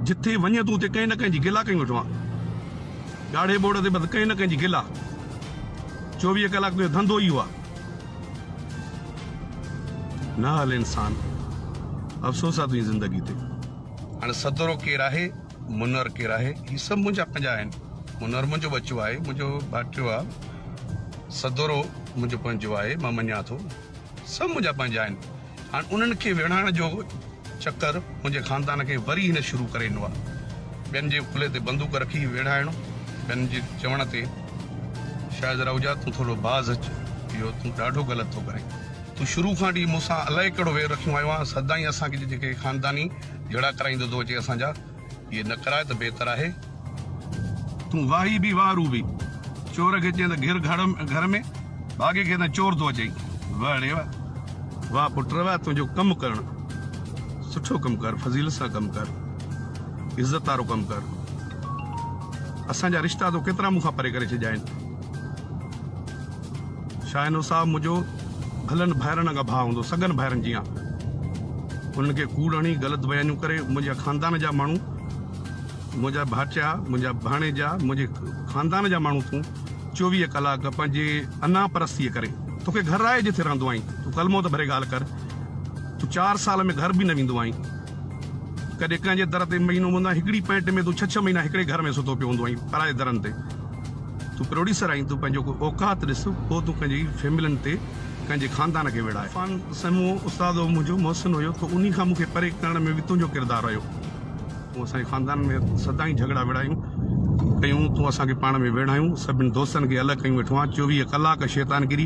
جتي وڃي تون اتي ڪنهن نه ڪنهن جي گلا ڪيون وٺو ها. ڳاڙهي ٻوڙ تي بس ڪنهن نه ڪنهن جي گلا. چوويهه ڪلاڪ تنهنجو ڌنڌو اهو آ. نه هل انسان افسوس آ تنهنجي زندگي تي. هاڻي سدرو ڪير آهي منور ڪير آهي هي سڀ منهنجا پنهنجا آهن. منور منهنجو ٻچو آهي منهنجو ڀائٽيو آ. سدرو منهنجو پنهنجو آهي مان مڃان ٿو سڀ منهنجا پنهنجا آهن. هاڻ انهن کي ويڙهائڻ جو چڪر منهنجي خاندان کي وري هن شروع ڪري ڏنو آهي. ٻين جي ڪلهي تي بندوق رکي ويڙهائڻ، ٻين جي چوڻ تي شايد رئوجا تون ٿورو باز اچ، اهو تون ڏاڍو غلط ٿو ڪرين. تون شروع کان وٺي مون سان الائي ڪهڙو وير رکيون آيو آهين، سدائين اسان کي جيڪي خانداني جهيڙا ڪرائيندو ٿو اچي اسان جا. جي نه ڪرائي ته بهتر آهي. تون واهي به واهه روبي. چور کي چئين ته گهر گهر ۾، ڀاڳي کي ته چور ٿو اچئي. واهه ڙي واهه. واهه پٽ واهه تنهنجو ڪم ڪرڻ. سٺو ڪم ڪر، فضيلت سان ڪم ڪر، عزت وارو ڪم ڪر. اسان جا رشتا تو ڪيترا مون کان پري ڪري ڇڏيا آهن. شاهينو صاحب منهنجو ڀلن ڀائرن انگا ڀاء هوندو، سڳن ڀائرن جيان. انهن کي ڪوڙ هڻي، غلط بيانيون ڪري، منهنجا خاندان جا ماڻهو، منهنجا ڀاٽيا، منهنجا ڀاڻيجا، منهنجي خاندان جا ماڻهو تون چوويهه ڪلاڪ پنهنجي انا پرستيء ڪري. توکي گهر آهي جتي رهندو آهين؟ تون ڪلمو ته ڀري ڳالهه ڪر. تون چار سال ۾ گهر به نه ويندو آهين. ڪڏهن ڪنهن جي در تي مهينو مهندو آهين، هڪڙي پينٽ ۾ تون ڇهه ڇهه مهينا هڪڙي گهر ۾ ستو پيو هوندو آهين، پرائي درن تي. تون پروڊيوسر آهين تون پنهنجو ڪو اوقات ڏس پوء تون ڪنهن جي فيملن تي ڪنهن جي خاندان کي ويڙهاء. عرفان سمو استاد هو منهنجو محسن هيو تو انهي کان مون کي پري ڪرڻ ۾ به تنهنجو ڪردار رهيو. تون اسان جي خاندان ۾ سدائين جهڳڙا وڙهايون ڪيون تون اسان کي پاڻ ۾ ويڙهايون سڀني دوستن کي الڳ ڪيون ويٺو آهين چوويهه ڪلاڪ شيطان گري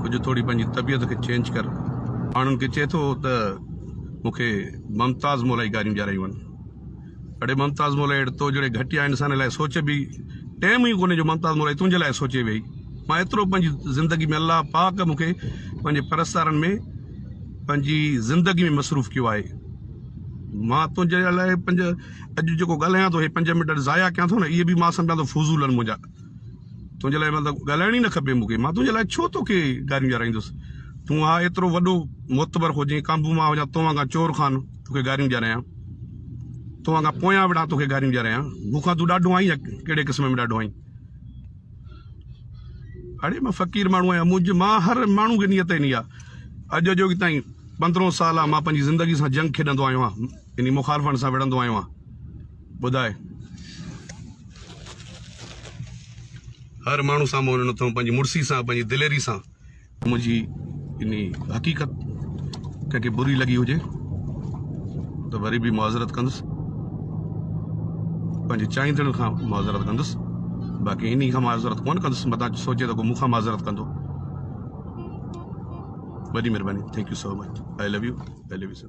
ڪجهه ٿوري پنهنجي طبيعت کي چينج ڪر. ماڻهن کي چئي ٿو ته مون کي ممتاز مولائي گاريون ڏيارائيون آهن. اڙي ممتاز مولائي اڙي تو جهڙي گهٽيا انسان لاء سوچ به ٽيم ئي ڪونهي جو ممتاز مولائي تنهنجي لاء سوچي ويهي. مان ايترو پنهنجي زندگي ۾ الله پاڪ مون کي پنهنجي پرستارن ۾ پنهنجي زندگي ۾ مصروف ڪيو آهي. مان تنهنجي لاء پنج اڄ جيڪو ڳالهايان ٿو هي پنج منٽ ضايع ڪيان ٿو نه اهي به مان سمجهان ٿو فضول آهن منهنجا. تنهنجي لاء مطلب ڳالهائڻ ئي نه کپي مون کي مان تنهنجي لاء ڇو توکي گاريون ڄارائيندس تون آء ايترو وڏو معتبر هجين ڪانبو مان هجان تو وانگان چور خان توکي گاريون ڄاريان تو وانگان پويان وڙهان توکي گاريون ڄاريان مون کان تون ڏاڍو آهين يا ڪهڙي قسم ۾ ڏاڍو آهين اڙي مان فقير ماڻهو آهيان منهنجي مان هر ماڻهو کي نيت ڏني آهي اڄ جو ڪي تائين پندرهون سال آهي مان پنهنجي زندگي سان جنگ کيڏندو آيو آهيان يعني مخالفن سان وڙهندو آيو آهيان ٻڌاء. هر ماڻهو سامهون آڻيو اٿئون پنهنجي مڙسي سان پنهنجي دليري سان. منهنجي انهي حقيقت ڪنهن کي بري لڳي هجي ته وري به معذرت ڪندس. پنهنجي چاهيندڙن کان معذرت ڪندس باقي انهي کان معذرت ڪونه ڪندس متان سوچي ته ڪو مون کان معذرت ڪندو. وڏي مهرباني thank you so much I love you I love you so.